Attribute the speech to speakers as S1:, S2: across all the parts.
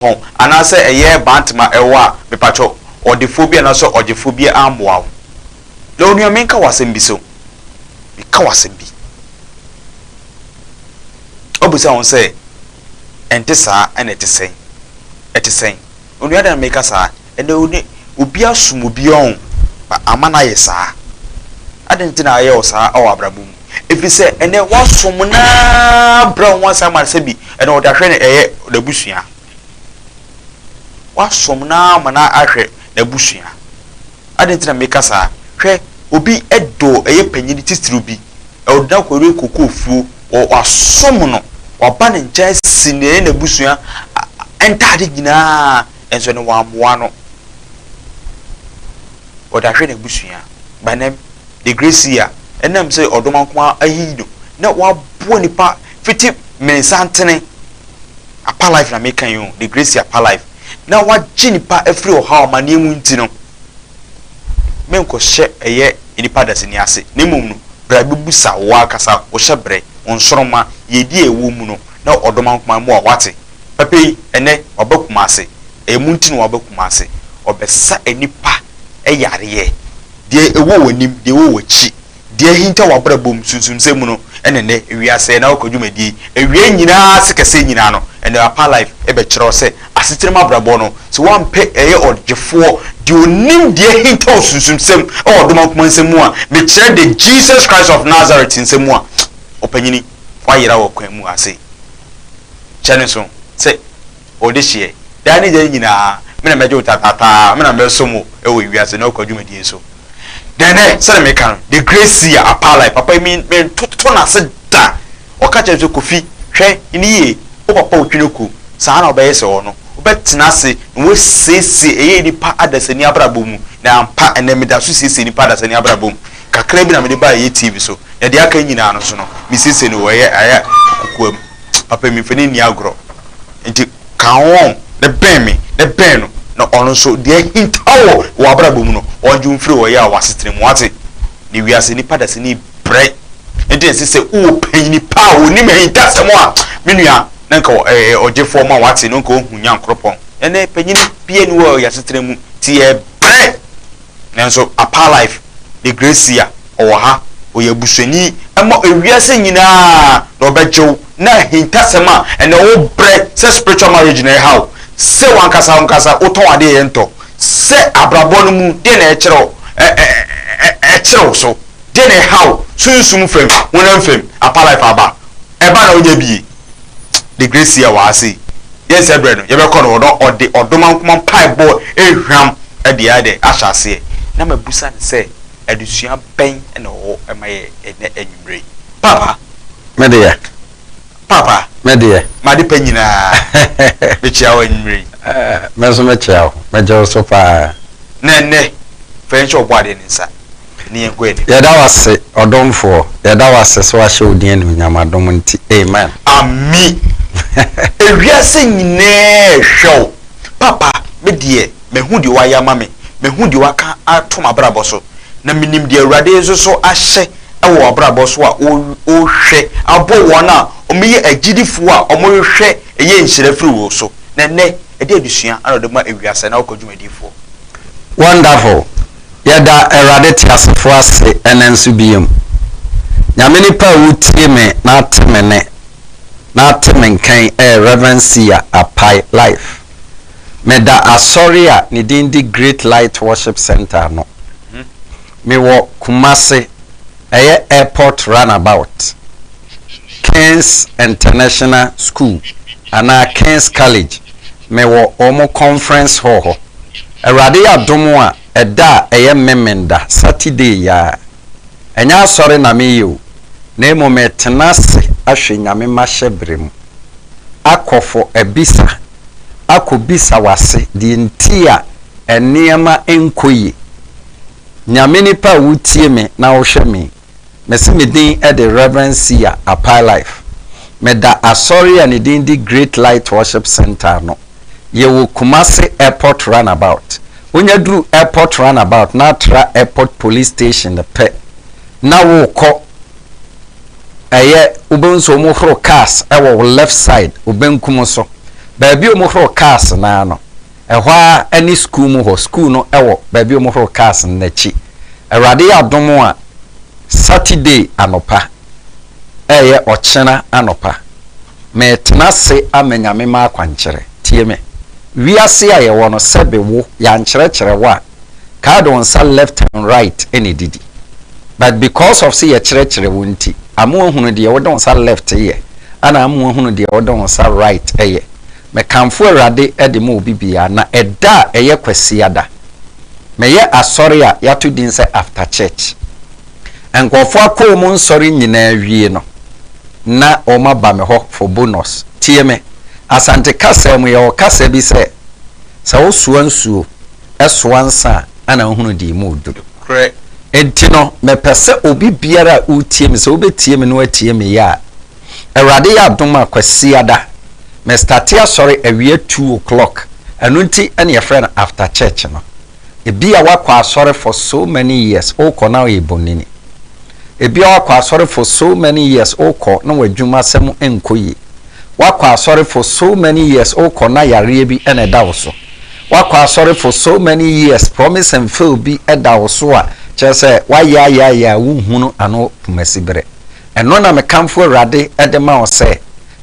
S1: ho anaasɛ ɛyɛ Bantama ɛwɔ a mepakyɛw ɔdefoɔ bi anaasɛ ɔgyefoɔ bi ammoa wo. Na onua menka wo asɛm bi so, meka wo asɛm bi. Wobisa wo ho sɛ ɛnte saa a ɛna ɛte sɛn? Ɛte sɛn? Onua adɛn na meka saa? ɛnɛ wo ne obi asom obi ɔn ama no ayɛ saa adɛn nti na ayɛ wo saa wɔ abrabɔ mu ɛfiri sɛ ɛnɛ woasom no ara brɛ wo ho ase ama no sɛ bi ɛnɛ ɔde ahwɛ no ɛyɛ n'abusua woasom no ara ma no ahwɛ n'abusua adɛn nti na meka saa hwɛ obi dɔ ɛyɛ panyini titiriw bi ɔde no akɔyere kokofuo wasom no waba ne nkyɛn si ne ɛyɛ n'abusua ntaade nyinaa nso no wɔammoa no. Ɔdahwɛ n'abusua banem de Gracia ɛnam sɛ ɔdoma nko ara ahiyi no na waboa nnipa fiti Mensantene Apa Life na meka yi o, de Gracia Apa Life na wagye nnipa afiri ɔhaw amaneɛ mu nti no, menkɔhyɛ ɛyɛ nnipa dasani ase na mmom no bra bɛbusa wo ankasa, wo hyɛbrɛ, wo nsoromma, yɛdi a ɛwɔ mu no na ɔdoma nko ara mmoa wo, wate? Papa yi, ɛnnɛ waba Kumase. Ɛyɛ mo nti na waba Kumase. Ɔbɛsa nnipa yareɛ. Deɛ ɛwɔ w'anim, deɛ ɛwɔ w'akyi, deɛ ahinta w'abrabɔ mu, sunsumsɛm mu no, ɛna ɛnnɛ wiase ɛna ɔkɔ dwumadie yi. Awieɛ nyinaa ase kɛseɛ nyinaa no, ɛnɛ Apaa Life bɛkyerɛ wo sɛ asetena mu abrabɔ no, sɛ woampɛ ɛyɛ ɔdwefoɔ, deɛ ɔnim deɛ ahinta wo sunsumsɛm wɔ Domankoma nsɛm mu a, mekyerɛ the Jesus Christ of Nazareth nsɛm mu a, ɔpanyini, woayera wɔ kwan mu ha sei. Hyɛ no nsow sɛ wɔ dehyeɛ, daa ne daa nyinaa, me na mɛgye wo tataataa, me na mɛsom wo wɔ wiase na wokɔ dwumadie so. Dɛnnɛ, sɛdeɛ meka no, the great seer, Apalai, papa yi me mentoto no ase da, ɔka kyerɛ me sɛ, Kofi, hwɛ no yie, wo papa a ɔtwi no ku, saa ara na wobɛyɛ sɛ ɔno, wobɛtena ase na woasiesie ɛyɛ nnipa adasani abrabɔ mu, na ampa ɛnnɛ meda so siesie nnipa adasani abrabɔ mu, kakra bi na mede baeɛ ɛyɛ TV so, na deɛ aka nyinaa no nso no, mesiesie no wɔ ɛyɛ kokoa mu. papa mi mfani nni agorɔ nti ka ho wɔn na bɛn me na bɛn no na ɔno nso deɛ ahinta wɔ w'abrabɔ mu no ɔngye wo mfiri ɔyea wɔ w'asetena mu wate ne wiase nipa da sini brɛ nti ɛsɛ sɛ wowɔ panyini pa a wɔnim ahintasɛm a me nua na nka ɛɛ ɔgyefoɔ ma wate no nka ɔhu nyankoropɔn ɛnɛ panyini bia ni wɔ yɛasetena mu ti yɛ brɛ Nanso Apaa Life de Gracia ɔwɔ ha, ɔyɛ abusuani ma ewiase nyinaa na ɔbɛgye wo na ahintasɛm a ɛnɛ wo brɛ sɛ spiritual marriage na ɛhaw wo, sɛ wankasa wankasa wotɔn adeɛ yɛ ntɔ, sɛ abrabɔ no mu deɛ na ɛkyerɛ wo ɛ ɛ ɛ ɛkyere wo so, deɛ na ɛhaw wo sunsum fam, honam fam, Apaa Life aba, ɛba na wonya bie. de Gracia wɔ ha sei, yɛn sɛ berɛ no yɛbɛkɔ no hɔ na ɔde ɔdomankoma mpaebɔ ehwam de ayɛ dɛn ahyɛ aseɛ na mabusa no sɛ adesua bɛn na ɔwɔ ma yɛn ɛnnɛ anwummerɛ yi. Paapa. Me deɛ.
S2: Paapa.
S1: Me deɛ.
S2: M'ade pa nyinaa.
S1: Mekyia wo anwummerɛ yi. Me nso mekyia
S2: wo. Megye wo so paa. Na ɛnnɛ,
S1: fa yɛn hyɛ ɔbɔadeɛ no nsa. ne yɛn kɔ anim. Yɛda wo ase,
S2: ɔdomfoɔ. Yɛda wo ase sɛ woahyɛ wo din anuonyam adom nti. Amen. Ame
S1: Ewiase nyinaa hwɛ wo. Papa, me deɛ, mahu deɛ woayɛ ama me, mahu deɛ woaka ato m'abrabɔ so, na menim deɛ Awurade nso so ahyɛ wɔ w'abrabɔ so a wohwɛ abɔ wɔn a wɔyɛ agyidifoɔ a wɔhwehwɛ yɛ nhyira firi wo so. Na ɛnnɛ, ɛdeɛn adesua na wode ma ewiase na wokɔ dwumadifoɔ? Wonderful!
S2: Yɛda Awurade teasefo ase ɛnnɛ nso biom. Nyame nipa a wotie me na ate me nne na ate me nka yi ɛyɛ Rev. Sia Apai Life. Meda Asɔre a ne din de Great Light Worship Centre ano. Mewɔ Kumasi, ɛyɛ Airport Runabout. King's International School anaa King's College, mewɔ wɔn conference hall hɔ. Awurade yɛ adom a, ɛda a ɛyɛ Memenda, Saturday yi ara. Ɛnyɛ asɔre na mereyɛ o, na mmom meretena ase ahwɛ Nyame mahyɛ berɛ mu, akɔ for abisa, akɔ bisa w'ase deɛ nti a nneɛma nkɔ yie. Nyame nipa a wotie me na wohwɛ me yi. Mese me din de Rev. Sia Apailife. Meda asɔre a ne din de Great Light Worship Centre ano. Yɛwɔ Kumasi Airport Runabout. Wonya duru Airport Runabout na atra Airport Police Station no pɛ na worekɔ ɛyɛ wobɛhu sɛ wɔhoro cars wɔ wo left side, wo benkum so. Baabi a wɔhoro cars no ara no, Ɛhɔ ara ne sukuu mu hɔ. Sukuu no wɔ baabi a wɔhoro cars no n'akyi. Awurade yɛ adom a, Saturday anɔpa, ɛreyɛ ɔkyena anɔpa, meretena ase ama Nyame m'akwankyerɛ. Tie me. Wiase a yɛwɔ no, sɛbe wo, yɛankyerɛkyerɛ wo a, kae de wo nsa left and right na edidi. But because of sɛ yɛkyerɛkyerɛ wo nti, ama woahunu deɛ wode wo nsa left yɛ, ɛna ama woahunu deɛ wode wo nsa right yɛ. Mekamfo Awurade de ma obi biara, na ɛda a ɛyɛ Kwasiada. Meyɛ asɔre a yɛato din sɛ After Church. Nkurɔfo akɔɔ mu nsɔre nyinaa wie no, na wɔaba me hɔ for bonus. Tie me, Asante kasa mu yɛwɔ kasa bi sɛ, Sɛ wosoa nsuo, soa nsa a, ana wohunu deɛ emu redɔ? Nokorɛ.
S1: Enti no,
S2: mepɛ sɛ obi biara a woretie me, sɛ wobɛtie me na woatie me yɛ a, Awurade yɛ adom a Kwasiada me starte asɔre awia two o'clock ɛno nti ɛna yɛfrɛ no after church no. Ebia woakɔ asɔre for so many years wokɔ na woyɛ bonini. Ebia woakɔ asɔre for so many years wokɔ na w'adwumasɛm nkɔ yie. Woakɔ asɔre for so many years wokɔ na yareɛ bi na ɛda wo so. Woakɔ asɔre for so many years promise and fail bi da wo so a kyerɛ sɛ woayɛ ayɛ ayɛ a wonhunu ano puma siberɛ. Ɛno na me kamfo Awurade de ma wo sɛ,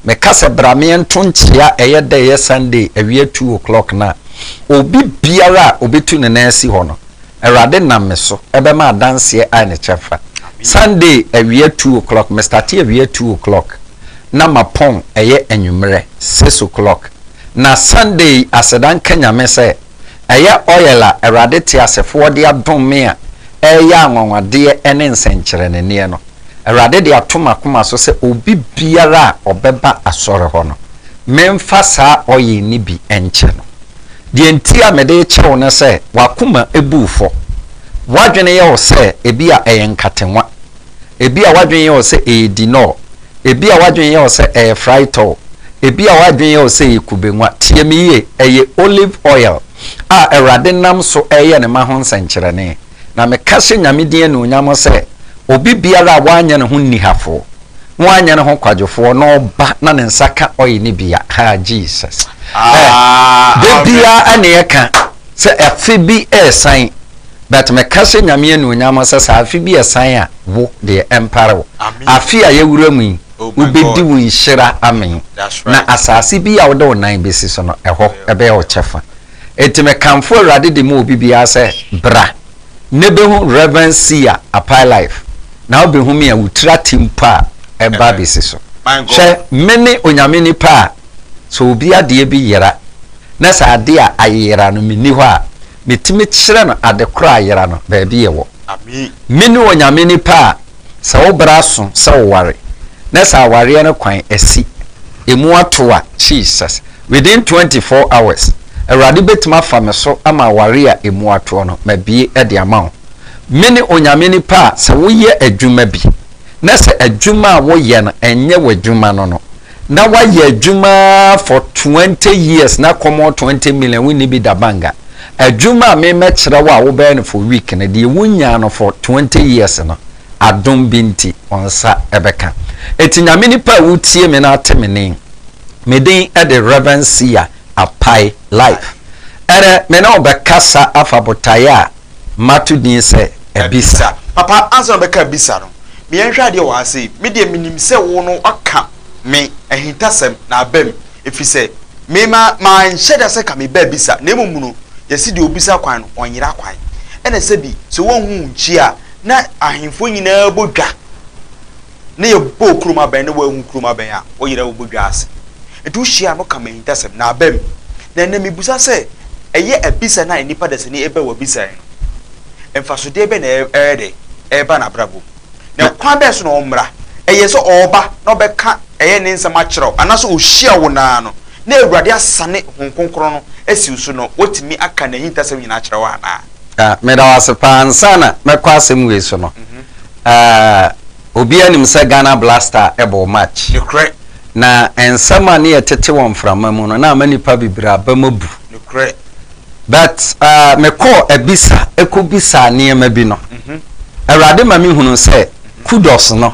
S2: me ka sɛ bra me nto nkyea ɛyɛ dɛ ɛyɛ Sunday awia two o'clock no a, obi biara a obetu ne nan asi hɔ no, Awurade nam me so bɛma adanseɛ a ne kyɛfa. Sunday awia two o'clock, me starte awia two o'clock na mapɔn ɛyɛ anwummerɛ six o'clock. Na Sunday yi aseda nka Nyame sɛ, Ɛyɛ oil a Awurade teasefoɔ de adom me a ɛreyɛ anwanwadeɛ ne nsɛnkyerɛnneɛ no. Awurade de ato m'akoma so sɛ obi biara a ɔbɛba Asɔre hɔ no, memfa saa oil no bi nkyɛ no. Deɛ nti a mede rekyɛ wo ne sɛ, w'akoma bu wo fɔ. W'adwene yɛ wo sɛ ebia ɛyɛ nkatewã. Ebia w'adwene yɛ wo sɛ ɛyɛ dinɔɔ. Ebia w'adwene yɛ wo sɛ ɛyɛ fraetɔɔ. Ebia w'adwene yɛ wo sɛ ɛyɛ kubenwa. Tie me yie, ɛyɛ olive oil a Awurade nam so reyɛ ne mma ho nsɛnkyerɛnne. Na meka hyɛ Nyame din anuonyam sɛ, obi biara a w'anyɛ ne ho nnihafoɔ, na w'anyɛ ne ho kwadwofoɔ, na ɔba na ne nsa ka oil no bi a, haa, Jesus, eh, da biara na ɛka. Sɛ afe bi ɛresan, but me ka hyɛ Nyame anuonyam sɛ sɛ afe bi ɛsan a wo deɛ ɛmpare wo. Afe a yɛwura mu yi wo bɛdi wo nhyira amee na asaase bi a wo de wo nan bɛsi so no ɛhɔ ɛbɛyɛ wo kyɛfa. Ɛnti me kamfo Awurade de ma obi biara sɛ bra na bɛhu Rev. Seer Apae life na wo bɛhu me a wo tiri ate mpo a ɛba bɛsi so. Hwɛ mene Onyame nipa a. Sɛ obi adeɛ bi yera, na sɛ adeɛ a ayera no menni hɔ a, metumi kyerɛ no ade korɔ a ayera no, baabi ɛwɔ. Mene
S1: Onyame
S2: nipa a sɛ wo bra so sɛ wo ware, na sɛ awareɛ no kwan asi, emu ato a, Jesus, within twenty four hours, Awurade bɛtumi afa me so ama awareɛ a emu atoɔ no, mabue de ama wo. Mene Onyame nipa a sɛ wo yɛ adwuma bi, na sɛ adwuma a wo yɛ no ɛnyɛ w'adwuma no no, Na wayɛ adwuma ara for twenty years na kɔmɔ twenty million wo nni bi da banga. Adwuma a me mɛkyerɛ wo a wo bɛyɛ no for week no deɛ wo nyaa no for twenty years no adom bi nti wo nsa ɛbɛka. Ɛti Nyame nipa a wo tie me na ate me nen me den ɛde Rev. Sia Apai Life. Ɛnɛ me ne wo bɛkasa afa botaeɛ a. Mato din sɛ Abisa. Papa, ansa na ɔbɛka
S1: Abisa no, me yɛnhwɛ adeɛ wɔ ha sei. Me deɛ menim sɛ wo no woaka me ahintasɛm na aba mu, ɛfiri sɛ me ma manhyɛ da sɛ ka me ba Abisa, na mmom no yɛse deɛ ɔbisa kwan no ɔnyera kwan, ɛna sɛbi sɛ wonhu wo nkyi a na ahemfoɔ nyinaa bɔ dwa. na yɛbɔɔ kurom abɛn na woanhu kurom abɛn a, wo yerɛ wo bodwa ase. Nti wohyia a no ka m'ahintasɛm na abam. Na ɛnnɛ mebisa sɛ, ɛyɛ abisa no a nnipa dasani ɛbɛ wɔ abisa yi no, mfasodeɛ bɛn na ɛyɛ dɛ ɛba n'abrabɔ mu? Na ɛkwan bɛn so na ɔmmra? Ɛyɛ sɛ ɔɔba na ɔbɛka ɛyɛ ne nsɛm akyerɛ wo anaasɛ ɔhyia wo naa no na Awurade asane Hon Kronkron no asi wo so no watumi aka n'ahintasɛm nyinaa akyerɛ wo anaa? Meda wo ase paa.
S2: Ansa na mɛkɔ asɛm wei so no, Aah obiara nim sɛ Ghana Blaster bɔɔ match. Nokorɛ. Na nsɛm a ne yɛ tete wɔ mframa mu no na ama nipa bebree aba mu abu. Nokorɛ. But aah me kɔɔ abisa kɔ bisaa nneɛma bi no, Awurade ma me hunu sɛ Kudus no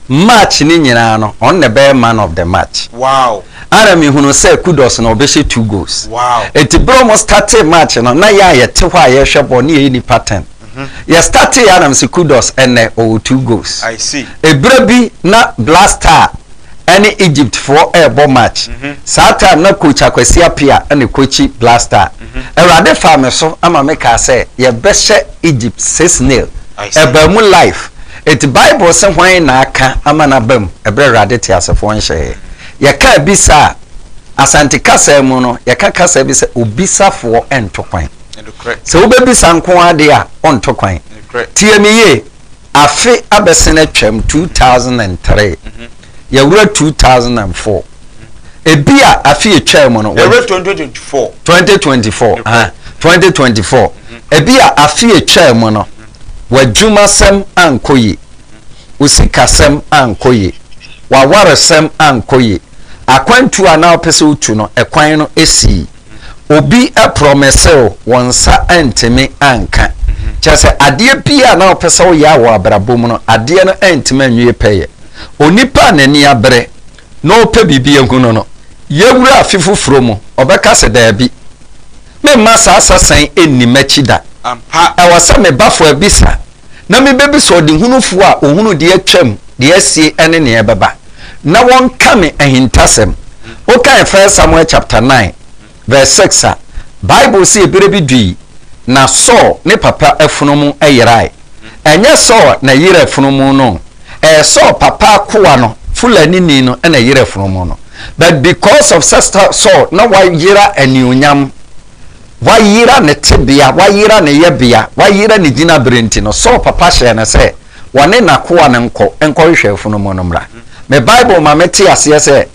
S2: match no nyinaa no ɔno na ɛbɛyɛ man of the match. Wow. Ana
S1: me hunu sɛ
S2: Kudus no ɔbɛhyɛ two goals. Wow. Ɛti berɛ ɔmo
S1: startee
S2: match no na yɛn a yɛte hɔ a yɛhwɛ bɔɔl no yɛyɛ nipa ten. Yɛ startee a na me se kudos ɛnnɛ ɔwɔ two goals. Eberɛ
S1: bi na
S2: Black Star ɛne Egypt foɔ ɛɛbɔ match, saa time na coach Akwasi Apia ɛna ɛcoachi Black Star. Awurade faa me so ɛma me kaa sɛ yɛbɛhyɛ Egypt six nil. Ɛbaa mu life. Enti Bible se hwan na aka ama no aba mu ɛberɛ Awurade teasefoɔ nhyɛɛɛ. Yɛkaa bisa a, Asante kasaa mu no yɛka kasaa bi sɛ obisafoɔ ɛnto kwan. Sɛ wobɛbisa nko ara deɛ a, wonto kwan. Tie me yie, afe abɛsen atwam, 2003, yɛwura 2004. Ebi a afe etwaa mu no. Yɛwura 2024. 2024,
S1: ah, 2024.
S2: Ebi a afe etwaa mu no, w'adwumasɛm ankɔ yie, wo sikasɛm ankɔ yie, w'awaresɛm ankɔ yie, akwantuo a na wopɛ sɛ wotu no, ɛkwan no sii. obi prɔmese wo, wo nsa antumi anka. Kyerɛ sɛ adeɛ biara na wopɛ sɛ woyɛ a wɔ abrabɔ mu no, adeɛ no antumi anwie pɛyɛ. Onipa a n'ani abere na ɔpɛ biribi ahu no no, yɛwura afe foforɔ mu, ɔbɛka sɛ, Daabi, memma saa asa sɛn nni m'akyi da. Ɛwɔ sɛ
S1: me bafo
S2: abisa na mebɛbisa ɔdehunufoɔ a ɔhunu deɛ atwam, deɛ asie ne deɛ ɛbɛba, na wɔnka me ahintasɛm. Wokan 1 Samuel chapter 9 verse 6 a, Bible se eberɛ bi dui, na Saul ne papa afunumu yerae. Ɛnyɛ Saul na ɛyerɛ afunumu no o, ɛyɛ Saul papa akoa no, Fulanini no na ɛyerɛ afunumu no. But because of sɛ Saul na wayera anuonyam, Wayera ne tebea, wayera ne yɛbea, wayera ne gyinabre nti no, Saul papa hyɛɛ no sɛ ɔne n'akoa no nkɔ nkɔhwehwɛ afunumu no mmra. Me Bible ma mete aseɛ sɛ,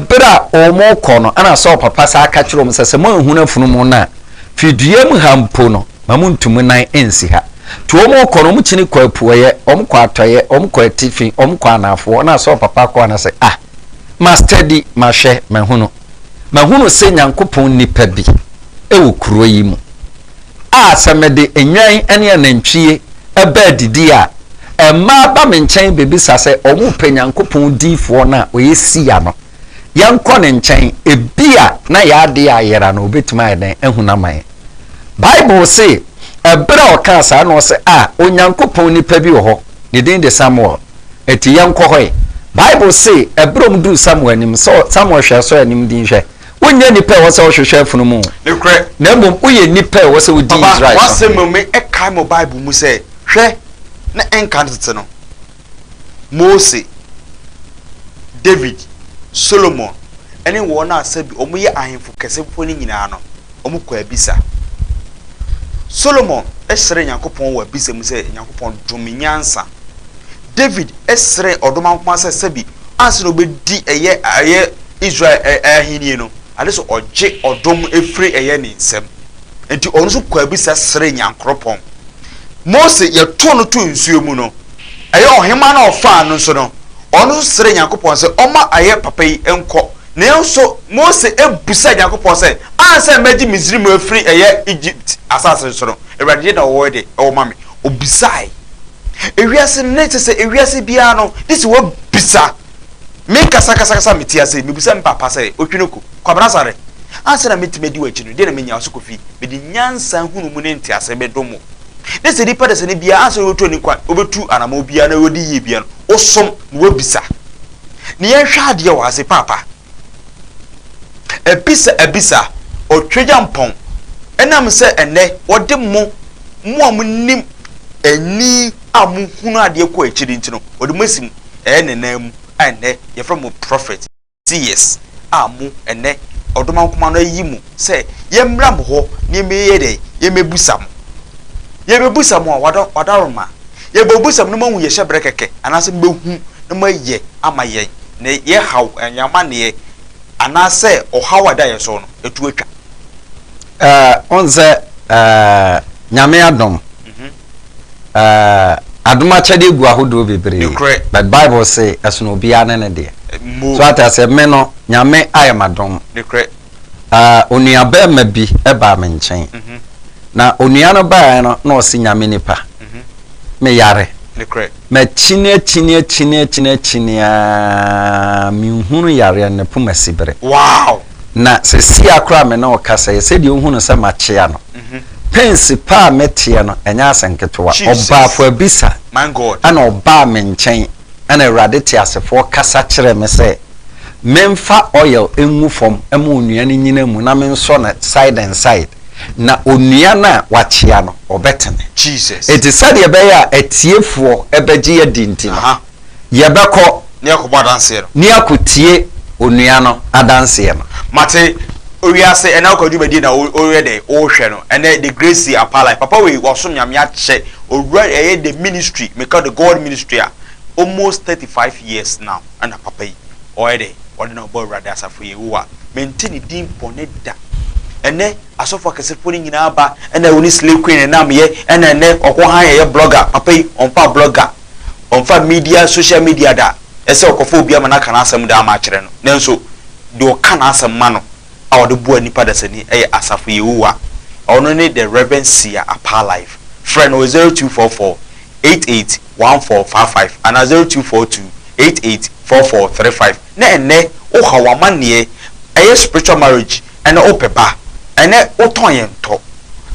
S2: Bere a wɔrekɔ no, ɛnna Saul papa san ka kyerɛɛ wɔn sɛ, Sɛ moanhunu afunumu no a, fi dua mu ha mpo no, mma montu mo nan nnsi ha. Enti wɔrekɔ no, wɔkyini kɔɔ apueeɛ, wɔkɔɔ atɔeɛ, wɔkɔɔ atifi, wɔkɔɔ anaafoɔ, ɛnna Saul papa akoa no se, Ah, mastadi, mahwɛ, mahunu. Mahunu sɛ Nyankopɔn nnipa bi wɔ kuro yi mu a sɛ mede nnwan ne anantwie ba adidie a, mmaa ba me nkyɛn bɛbisa sɛ wɔpɛ Nyankopɔn diyifoɔ no a ɔyɛ Sia no. Yɛnkɔ ne nkyɛn, ebia na yɛn adeɛ ayera anaa ɔbɛtumi ayɛ dɛn ahu no ama yɛn. Bible se, Ɛberɛ a ɔkaa saa no, ɔse, A, Onyankopɔn nnipa bi wɔ hɔ, ne din de Samuel. Enti yɛnkɔ hɔ ɛ. Bible se Abrom duu Samuel anim, sɛ Samuel hwɛɛ so a anim din hwɛ. Wonyɛ nipa a ɛwɔ sɛ wohwehwɛ afunumu o. Nokorɛ. Na mmom woyɛ nipa a ɛwɔ sɛ wodi Israel so hene. Papa, w'asɛm no me
S1: kae me wɔ Bible mu sɛ, hwɛ, na ɛnka no tete no, Mose, David, Solomon, ne wɔn a sɛ bi wɔyɛ ahemfo kɛse mpo no nyinaa no, wɔkɔɔ abisa. Solomon srɛɛ Nyankopɔn wɔ abisa mu sɛ, Nyankopɔn, dom me nyansa. David srɛɛ ɔdom ankoaa sɛ sɛbi ansa na ɔbɛdi ɛyɛ ɛyɛ Israel ɛ ahennie no, ade sɛ ɔgye ɔdom firi ɛyɛ ne nsam. Enti ɔno nso kɔɔ abisa srɛɛ Nyankoropɔn. Mose, yɛtoo no too nsuo mu no, ɛyɛ ɔhemaa no a ɔfaa no nso no, ɔno nso srɛɛ Nyankopɔn sɛ ɔmma ɛyɛ papa yi nkɔ. Nanso Mose bisaa Nyankopɔn sɛ, Ansa na mɛgye Misraim afiri ɛyɛ Egypt asase no so no, Awurade deɛ na ɔwɔ de wɔ ma me. Obisae. Ewiase no, na ɛte sɛ ewiase biara no, gye sɛ wobisa. Mekasa kasa kasa a mete ase yi, mebisa me papa sɛ, Otwinoko, Kwabena Asare, ansa na metumi adi w'akyi no, deɛn na menya wo so kɔfi? Mede nyansa, nhunumu ne nteaseɛ bɛdom wo. Na sɛ nipa dasani biara, ansa na wobɛtu ani kwan, wobɛtu anammɔn biara na wadi yie biara no, wosom na wobisa. Ne yɛnhwɛ adeɛ wɔ ha sei, Paapa. Abisa abisa, ɔtwagya mpɔn, ɛnam sɛ ɛnnɛ wɔde mo, mo a monim ani a mohunu adeɛ kɔ akyiri nti no, wɔde mo asi mu, ɛyɛ ne nan mu a ɛnnɛ yɛfrɛ mo prophet, seers, a mo, ɛnnɛ, ɔdomankoma no ayi mo. sɛ yɛmmra mo hɔ na yɛmmɛyɛ dɛn, yɛmmɛbusa mo. Yɛbɛbusa mo a, wada, wadaroma, yɛbɛbusa mo na moahu yɛ hyɛbrɛ kɛkɛ, anaasɛ mobɛhu na moayɛ ama yɛn, na yɛ haw, yɛn amanneɛ, anaasɛ ɔhaw a ɛda yɛn so no, ɛtu atwa. Ɛɛ,
S2: wohu sɛ, ɛɛ, Nyame adom, mhm. ɛɛ, adom akyɛdeɛ gu ahodoɔ bebree, but Bible se, ɛsono obiara ne ne deɛ. So ate aseɛ, me no, Nyame ayɛ m'adom. Ah, onua barima bi baa me nkyɛn. Na onua no baeɛ no, na ɔse, Nyame nipa, me yare. Makyini akyini akyini akyini akyini aa, me nhunu yareɛ no, me poma si bere.
S1: Na sesia
S2: koraa a me ne wo kasa yi, sɛdeɛ wohu no sɛ makyea no, pensi pa a me teɛ no, ɛnyɛ asɛ nketewa. Ɔbaafo abisa, ɛna
S1: ɔbaa me nkyɛn,
S2: ɛna Awurade teasefoɔ kasa kyerɛɛ me sɛ. Menfa oil ngu fam ma onua no nnyina mu na mensɔ no side and side, na onua no a wɔakyea no, ɔbɛtene. Enti
S1: sɛdeɛ ɛbɛyɛ
S2: a atiefoɔ bɛgye adi nti no, yɛbɛkɔ ne
S1: akɔtie
S2: onua no adanseɛ no. Mate
S1: owiase ɛnɛ ɔkwa dwumadie na woyɛ dɛ wohwɛ no ɛnɛ the great see apalai papa wei wasom nyame akyɛ owura ɛyɛ the ministry meka the God ministry a almost thirty five years now. Ɛnna papa yi, ɔyɛ dɛ ɔde no rebɔ Awurade asafo Yehowa. Mente ne din bɔne da. Ɛnnɛ, asɔfo akɛsefo no nyinaa aba, ɛnna wɔne Slay Queen nam yɛ, ɛnna ɛnnɛ ɔkɔ hann yɛyɛ blogger. Papa yi, ɔmfa blogger, ɔmfa media, social media da. Ɛsɛ sɛ ɔkɔfa obi ama no aka n'asɛm de ama akyerɛ no. Nanso, deɛ ɔka n'asɛm ma no, a wɔde boa nnipa dasani yɛ Asafo Yehowa, ɛhɔ no ne The Rev. Sia Apaa Life. Frɛ no wɔ 0244 88 1455 anaa 0242 88 4435. Na ɛnnɛ wohaw amanneɛ, ɛyɛ spiritual marriage ɛna wopɛ ba, ɛnɛ wotɔn yɛn tɔ,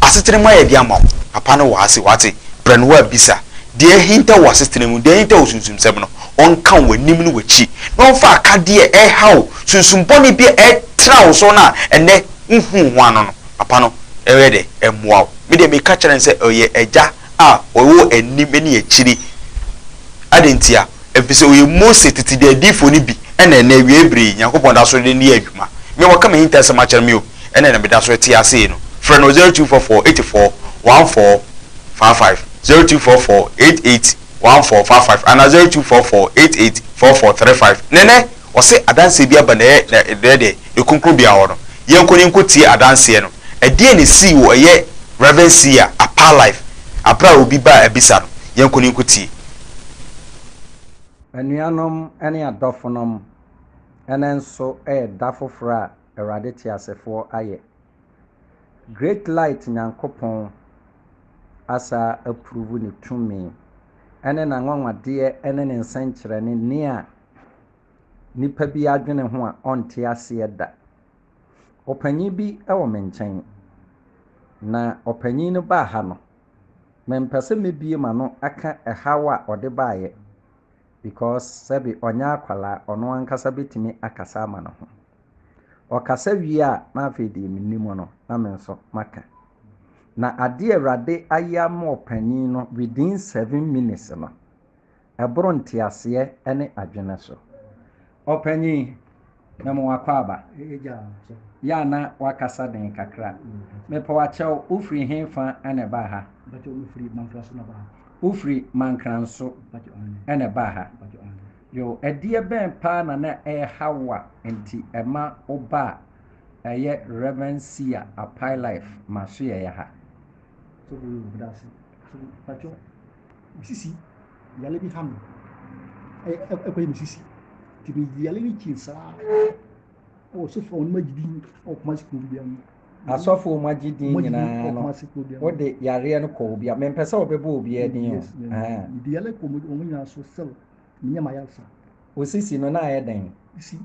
S1: asetena mu ayɛdeɛ ama wo, Papa no wɔ ha se wate, brɛ no wɔ abisa deɛ ahintaw wɔ asetena mu, deɛ ahintaw wɔ sunsumsɛm no, ɔnka wo anim ne w'akyi, na ɔmfa akadeɛ a ɛhaw sunsum bɔne bi a ɛtra wo so no a ɛnnɛ wohuu ho ano no, papa no ɛyɛ dɛ ɛmmoa wo. Me deɛ meka kyerɛ no sɛ ɔyɛ agya a ɔwɔ anim ne akyire. Adɛn ntia? Ɛfisɛ ɔyɛ Mose tete de adiyifoɔ no bi, ɛna ɛnnɛ awiei berɛ yi Nyankopɔn da so de no yɛ adwuma. Me a waka m'ahintasɛm akyerɛ me o, ɛna na meda so rete ase yi no, frɛ no o zero two four four eighty four one four five five, zero two four four eight eight. one four five five anaa zero two four four eight eight four four three five ne nɛ ɔse adanseɛ bi aba nɛɛ na nɛ deɛ ɛkunkun bia hɔ no yɛnkɔ ne nkɔ tie adanseɛ no ɛdeɛn na ɛsii wɔ ɛyɛ Rev Sia Apaa life aberɛ a obi baa abisa no yɛnkɔ ne nkɔ tie.
S2: Anuanom ne adɔfonom, ɛnnɛ nso yɛ da foforɔ a Awurade teasefoɔ ayɛ. Great Light Nyankopɔn. asaa approve ne tumi ɛne n'anwanwadeɛ ɛne ne nsɛnkyerɛnne nea nipa bi adwene ho a ɔnte aseɛ da. Ɔpanyin bi wɔ me nkyɛn na ɔpanyin no baa ha no mempɛ sɛ mɛbue m'ano aka ɛhaw a ɔde baeɛ because sɛbe ɔnyɛ akwadaa ɔno ankasa bɛtumi akasa ama ne ho. Ɔkasa wie a, na afei deɛ menni mu no, na me nso maka. Na adeɛ a Awurade ayɛ ama ɔpanin no within seven minutes no, ɛboro nteaseɛ ne adwene so. Ɔpanin, na mewɔ akwaaba. Yɛ a na wakasa den kakra. Mepɛ wakyɛw, wofiri he fa na ɛbaa ha? Wofiri Mankranso na ɛbaa ha. Yoh, ɛdeɛ bɛn paa na na ɛrehaw wo a nti ɛma wo ba a ɛyɛ Rev. Sia Apai Life Masoɛeɛ ha? Sɔfo
S3: Yoh, meda ase. Mpakyɛw, me sisi yare bi ha me, ɛkɔyɛ me sisi. Nti me yare no kyin saa wɔ sɔfo a wɔn agye din wɔ Kumasi kuro bi mu. Asɔfo wɔn agye
S2: din nyinaa no, wode yareɛ no kɔ obi a, mempɛ sɛ wɔbɛbɔ obiara din o. Mede yare kɔ wɔn
S3: nyinaa so sɛl. Menyɛ m'ayarsa. Wo sisi no na
S2: ayɛ dɛn? Sisi,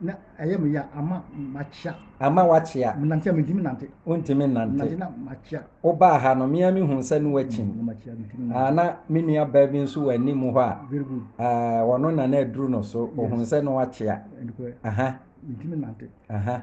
S3: Na ɛyɛ me ya. Ama makyea. Ama
S2: woakyea. Menante a, mentumi
S3: nnante. Wontumi nnante. Menante
S2: na makyea.
S3: Wobaa ha no, me ara
S2: mehuu sɛ na woakyim. Na makyea, mentumi nnante. Ah, na me nuabaa bi nso wɔ anim hɔ a. Very good. Ah,
S3: ɔno na na
S2: aduru no so. Ohuu sɛ na woakyea. Ɛnokorɛ. Aha. Mentumi nnante.
S3: Aha.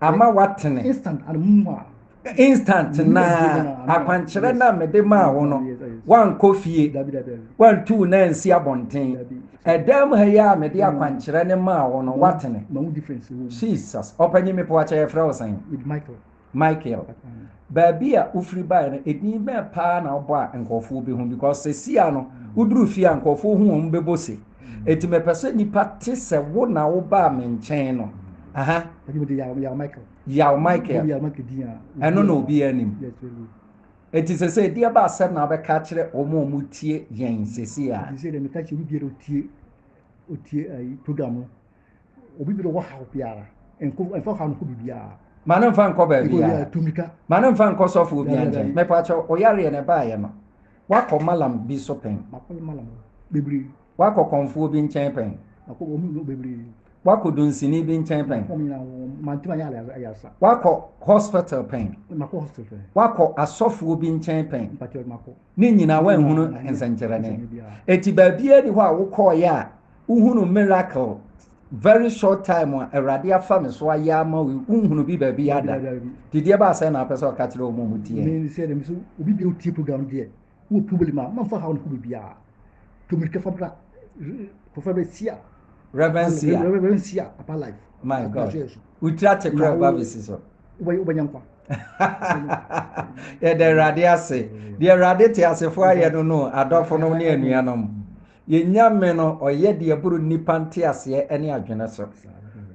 S2: ama woatene.
S3: Instant
S2: na akwankyerɛ no a mede maa wo no, woankɔ fie, woantu wo nan nsi abɔnten. Ɛdan mu ha yi a mede akwankyerɛ no maa wo no, woatene.
S3: Jesus, ɔpanyin
S2: me poakyɛ yɛfrɛ wo sɛn?
S3: Michael.
S2: Baabi a wofiri baeɛ no, edin bɛn paa na wobɔ a nkurɔfoɔ bɛhu? Because sɛsi a no, woduru fie a nkurɔfoɔ hu wɔn bɛbɔ se. Enti mepɛ sɛ nnipa te sɛ wo na wobaa me nkyɛn no. Aha.
S3: Yaw Michael.
S2: Yaw Michael. Ɛno
S3: na obi
S2: anim. Enti sɛ sɛ ɛdeɛ ba asɛm na abɛka akyerɛ wɔn a wɔtie yɛn sɛsi a. Enti sɛ deɛ meka kyerɛ obi biara
S3: otie otie ayi program no. Obi bi wɔ haw biara. Nko nfa haw nko bibiara. Ma no nfa nkɔ
S2: baabi a. Tumika. Ma no nfa
S3: nkɔ sɔfo
S2: obi ankyɛn. Me pacho oyareɛ na ɛbaayɛ no. Wakɔ malam bi so pɛn. Makɔ no malam
S3: bebree. Wakɔ kɔnfoɔ
S2: bi nkyɛn pɛn. Makɔ wɔn mu bebree.
S3: Wakɔ dunsini
S2: bi nkyɛn pɛn. Makɔ wɔn nyinaa wɔn mantum
S3: ayɛ ayaresa. Wakɔ hospital
S2: pɛn. Makɔ hospital pɛn.
S3: Wakɔ asɔfoɔ
S2: bi nkyɛn pɛn. Pacho makɔ. Ne
S3: nyinaa wɔnhunu
S2: nsɛnkyerɛnne. Eti baabiara ni hɔ a wokɔɔyɛ a. Wohunu miracle very short time a awurade afa me so ayɛ ama wo wohunu bi baabi ada dideɛ baa sɛ na apɛ sɛ ɔka kyerɛ ɔmo mu teɛ ne sɛ dɛm so
S3: obi bi otie program deɛ wɔ problem a mamfa haw no ho biribiaa tomirika fa bra kɔfa bɛ sia Reverend Sia Reverend Sia Papa Life my God
S2: wotiri ate kora ba bɛsi so wobɛnya nkwa yɛda awurade ase deɛ awurade te asefoɔ ayɛ no no adɔfo no ne anuanom Yɛn Nyame no, ɔyɛ deɛ ɛboro nnipa nteaseɛ ne adwene so.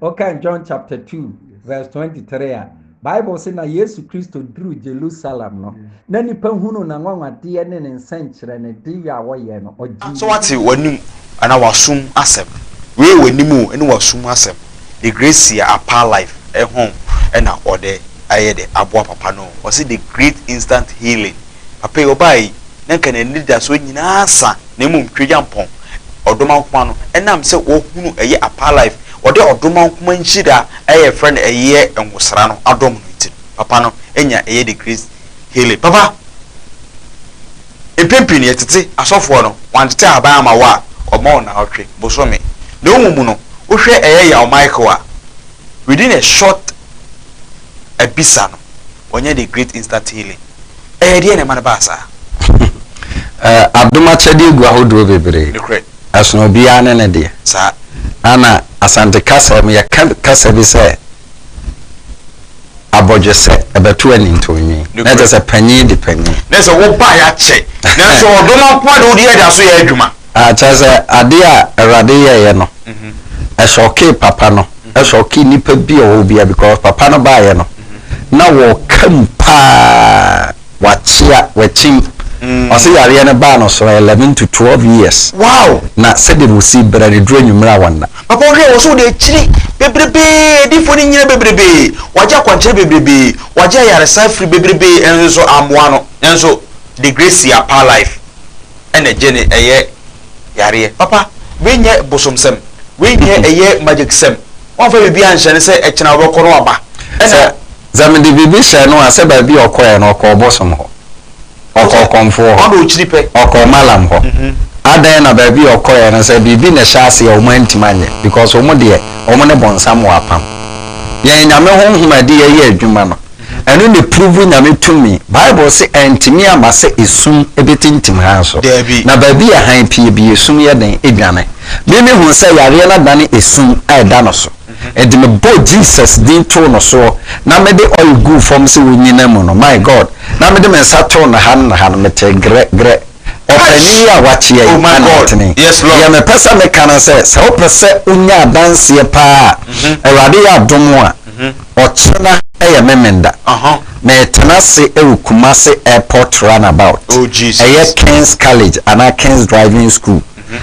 S2: Wokan John chapter 2 verse 23 a, Bible se na Yesu Kristo duru Jerusalem no, na nnipa hunu n'anwanwadeɛ ne ne nsɛnkyerɛnnedeɛ a ɔyɛɛ no, ɔgyee So wate w'anim
S1: anaa w'asom asɛm? Wei yɛ w'anim o ne w'asom asɛm. The Gracia Apaa Life ɛhɔ na ɔde ayɛ dɛ aboa papa no o. Ɔse the great instant healing. Papa yi, ɔbaa yi, na nka n'anidasoɔ nyinaa asa, na mmom Tweagyampɔn, Ɔdomankoma no, ɛnam sɛ wahunu ɛyɛ Apalife, ɔde Ɔdomankoma nhyira a yɛfrɛ no ɛyɛ Ngosra no adom no nti no, Papa no anya ɛyɛ The Great Healing. Papa, mpɛn pii no yɛtete asɔfoɔ no, wɔantete ahaban ama wo a, wɔma wo nnawɔtwe, bosome. Na mmom no, wohwɛ ɛyɛ Yaw Michael a, within a short abisa no, ɔnyɛ the great insta tele ɛyɛ deɛ na ɛma no baa saa. Adom
S2: akyɛdeɛ gu ahodoɔ bebree. Nokorɛ. Ɛsono obiara ne ne deɛ. Saa.
S1: Ana
S2: Asante kasa mu yɛka kasa bi sɛ abɔdwesɛ ɛbɛto anintonwi. Nokorɛ. Na ɛkyɛ sɛ panyin di panyin. Na ɛsɛ wobaeɛ
S1: akyɛ nanso ɔdɔ no nko ara de wode yɛ de aso yɛ adwuma. Ah, kyerɛ sɛ
S2: adeɛ a Awurade yɛeɛ no, ɛsɔkee papa no, ɛsɔkee nnipa bi a wɔwɔ biara because papa no baeɛ no, na wɔka mu pa ara, wakyea, wakyim. Ɔse yareɛ no baa no so eleven to twelve years, Wow! na
S1: sɛdeɛ wɔsi
S2: bra no ɛduru anwumerɛ a wɔnna. Papa wohwɛ wɔ so wode
S1: akyiri bebrebee, adiyifoɔ no nyina bebrebee, wagye akwankyerɛ bebrebee, wagye ayaresa afiri bebrebee nso so ammoa no, nanso the grace apaa life. ɛna gyene ɛyɛ yareɛ papa wei nyɛ bosomsɛm wei deɛ ɛyɛ magic sɛm wamfa biribi anhyɛ no sɛ ɛkyena wobɛkɔ no waba ɛna
S2: Sɛ mede biribi hyɛɛ no a sɛ baabi a ɔkɔeɛ no ɔkɔɔ ɔbosom hɔ ɔkɔɔ ɔkɔmfoɔ hɔ ɔkɔɔ
S1: malam hɔ
S2: adɛn na baabi a ɔkɔeɛ no sɛ biribi na ɛhyɛ aseɛ a wɔn antumi anyɛ because wɔn deɛ wɔn ne bonsam wɔ apam yɛn nyame honhom a ɛde yɛyɛ adwuma no Ɛno na ɛpuruvu Nyame tumi. Bible se ɛntumi amma sɛ esum bɛtintim hann so. Daabi. Na baabi a hann pue bi, esum yɛ dɛn? Ɛdwane. Me mehuu sɛ yareɛ no adane esum a ɛda no so. Enti mebɔɔ Jesus din too no soɔ, na mede oil guu fam sɛ ɔnnyina mu no, my God, na mede me nsa too no ha no na ha no, metee grɛ, grɛ. Ɔpanin yi a wakyea yi na ɔtene. Deɛ mepɛ sɛ
S1: meka ne
S2: sɛ, sɛ wopɛ sɛ wonya adanseɛ pa ara a, Awurade yɛ adom a, ɔkyena yɛ Memenda. Meretena ase wɔ Kumasi Airport Runabout. Ɛyɛ
S1: King's College
S2: anaa King's Driving School.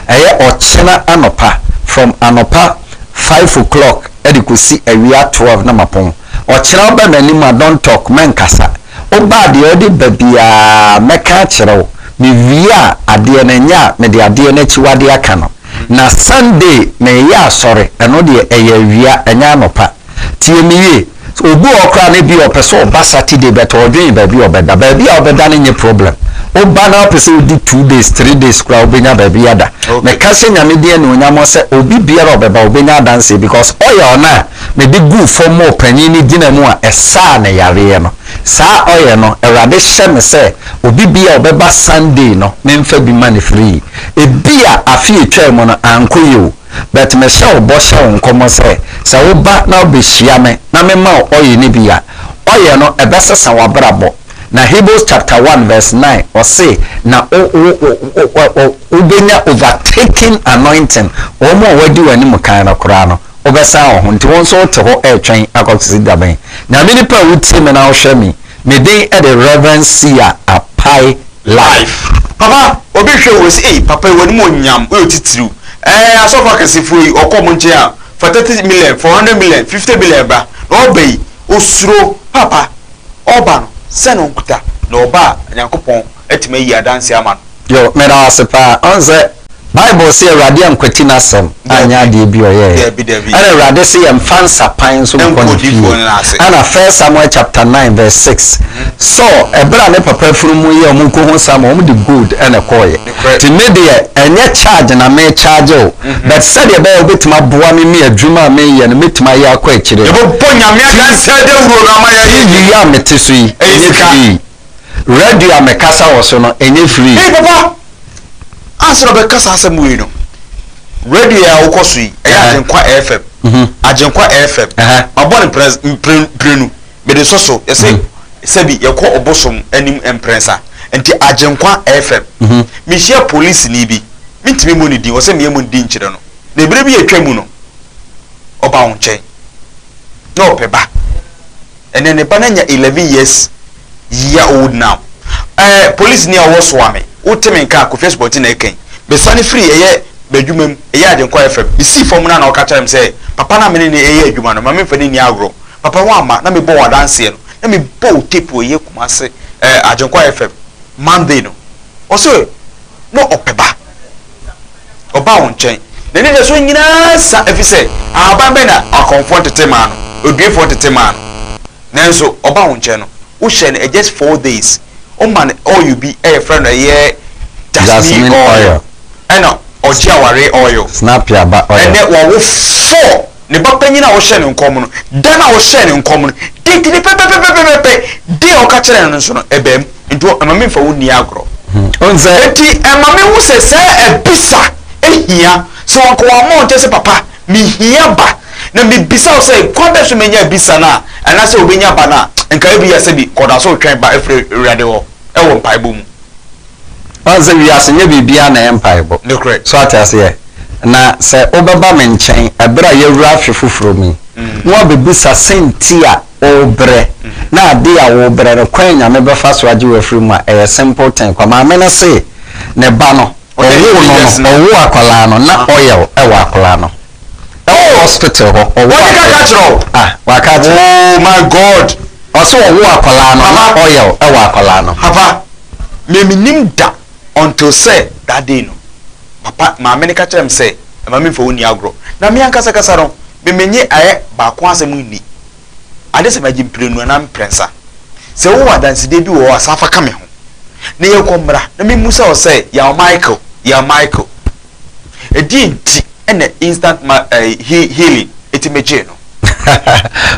S2: Ɛyɛ ɔkyena anɔpa, from anɔpa five o'clock de kɔsi awia twelve na mapɔn. Ɔkyena wobɛ m'anim a, don't talk, mɛnkasa. Woba a, deɛ wode ba biara mɛka akyerɛ wo. Mewie a, adeɛ no, ɛnyɛ a mede adeɛ no akyiwadeɛ aka no. Na Sunday mereyɛ asɔre, ɛno deɛ ɛyɛ awia, ɛnyɛ anɔpa. Tie me yie. Obi wɔ hɔ koraa no, ebia ɔpɛ sɛ ɔba Saturday, but ɔredwen baabi a ɔbɛda. Baabi a wobɛda no nyɛ problem. Woba na wopɛ sɛ wodi two days, three days koraa a, wobɛnya baabi ada. Meka hyɛ Nyame din anuonyam sɛ, obi biara a ɔbɛba, ɔbɛnya adanseɛ because oil no a Mede guu fam ma ɔpanyin no gyinaa mu a ɛsaa ne yareɛ no. Saa oil no, Awurade hyɛ me sɛ obi bi a ɔbɛba Sunday no memfa bi ma no free. Ebia afe a ɛtwaa mu no ankɔ yie o, but mehyɛ wo bɔ hyɛ wo nkɔmmɔ sɛ, sɛ woba na wobɛhyia me na mema wo oil no bi a, oil no ɛbɛsesa w'abrabɔ. Na Hebrews chapter one verse nine ɔse, na wo, wo, wo, wo, wo, wobɛnya overtaking anointing, wɔn a wɔadi w'anim kan no koraa no. Wobɛsan wo ho, nti wo nso wote hɔ retwɛn akɔsi da bɛn? Na me nipa a wotie me na wohwɛ me, me den de Rev. Sia Apai Life. Papa obi
S1: hwɛ wo se ei papa yi w'animuonyam woyɛ otitiriw ɛɛ asɔfo akɛsefoɔ yi ɔkɔ ɔmo nkyɛn a fa thirty million, four hundred million, fifty million bra na ɔba yi osuro papa ɔba no sɛn na ɔnkuta na ɔba a Nyankopɔn atumi ayi adanse ama no. Yo, meda wo ase
S2: paa. Ɔn sɛ Bible se Awurade ankwati n'asɛm anyɛ adeɛ bi a ɔyɛeɛ. Ɛna Awurade se yɛmfa nsapan nso nkɔ ne fie. Ɛna First Samuel chapter nine verse six, Saul, ɛberɛ a ne papa afunumu yɛ wɔn kɔhu Samuel, wɔn de gold ɛna ɛkɔeɛ. Nti me deɛ, ɛnyɛ charge na me charge wo, but sɛdeɛ ɛbɛyɛ a wobɛtumi aboa me me adwuma a meyɛ no mɛtumi ayɛ akɔ akyire no. Yɛbɛbɔ Nyame
S1: adanseɛ dawuro no ama yɛayɛ yie. TV yi a mete so
S2: yi, ɛnyɛ fii. Radio a mekasa wɔ so no, ɛnyɛ free. Hey papa!
S1: Ansa na ɔbɛka saa asɛm wei no, radio yi a wokɔ so yi, ɛyɛ Agyenkwa FM. Mhm. Agyenkwa FM. Mabɔ no mprɛ mprɛ mprenu. Mede nsɔ so. Yɛsɛ mhm. sɛbi yɛkɔ ɔbosom anim mprɛnsa. Nti Agyenkwa FM. Mhm. Mehyia polisini bi. Mentumi mmɔ ne din. Ɔsɛ meyɛ mu din nkyerɛ no. Na ebere bi yɛtwa mu no, ɔba wo nkyɛn. Na ɔpɛ ba. And then ne ba no anya eleven years year old now eh police ni a ɔwɔ soa me wo te me nka a Kofi Asubɔnten na ɛka yi me sane firi ɛyɛ me adwuma mu ɛyɛ Agyenkwa FM me sii fam no a na ɔka kyerɛ me sɛ papa no a me ne no ɛyɛ adwuma no ma me mfa no nni agorɔ papa woamma na me bɔ wo adanseɛ no na me bɔ wo tape wɔ ɛyɛ Kumase eh Agyenkwa FM Monday no ɔse na ɔpɛ ba. Ɔbaa wɔn nkyɛn. N'ani da so nyinaa sa ɛfiri sɛ ahaban bɛn na akɔmfoɔ ntete maa no, oduefoɔ ntete maa no. Nanso ɔbaa wɔn nkyɛn no, wohyɛ no just four days. Woma no oil bi a yɛfrɛ no ɛyɛ jasmine oil ɛna ɔgye awareɛ oil. Ɛnɛ
S2: wawo four.
S1: ne ba panyin a ɔhyɛɛ no nkɔm no, da no a ɔhyɛɛ no nkɔm no, date no pɛpɛpɛpɛpɛpɛ, day a ɔka kyerɛɛ no no nso no, ɛbaam. Enti hɔ, ɛma memfa wo nni agorɔ. Wohu sɛ? Enti
S2: ɛma mehu
S1: sɛ saa abisa hia. Sɛ wɔanka wɔamma wo nkyɛ sɛ, Papa, mihia ba, na mibisa wo sɛ, kwan bɛn so na menya abisa no a, anaasɛ obenya ba no a, nka ebia sɛbi kɔda so retwɛn ba afiri Awurade hɔ wɔ mpaebɔ mu. Woahu sɛ
S2: wiase nyɛ biribiara na ɛyɛ mpaebɔ. So ate aseɛ? Na sɛ wobɛba me nkyɛn ɛberɛ a yɛawura afe foforɔ mu yi, na woabɛbisa sɛn nti a worebrɛ, na adeɛ a worebrɛ no, kwan a Nyame bɛfa so agye wo afiri mu a, ɛyɛ simple thing kwa. Maame no see ne ba no, ɔwoo no no, ɔwoo akwadaa no, na oil wɔ akwadaa no. ɛwɔ hospital hɔ ɔwɔ akwadaa. Wɔde kaka akyerɛ wo. Ah waka akyerɛ.
S1: Oh my God. Ɔsɛ ɔwɔ
S2: akwadaa no na oil ɛwɔ akwadaa no. Papa
S1: me me nim da until sɛ that day no papa maame no ka kyerɛ me sɛ ɛma me nfa wo nni agorɔ na me ankasa kasa no me me nye ayɛ baako asɛm nni ade sɛ magye mprenu anaa mprɛnsa sɛ wo wɔ adansedie bi wɔ hɔ a san fa ka me ho na yɛn kɔ mmra na me mmu sa wo sɛ yaw Michael yaw Michael. Ɛdeɛn nti na instant ma eh, he, healing ɛtumi gyee no?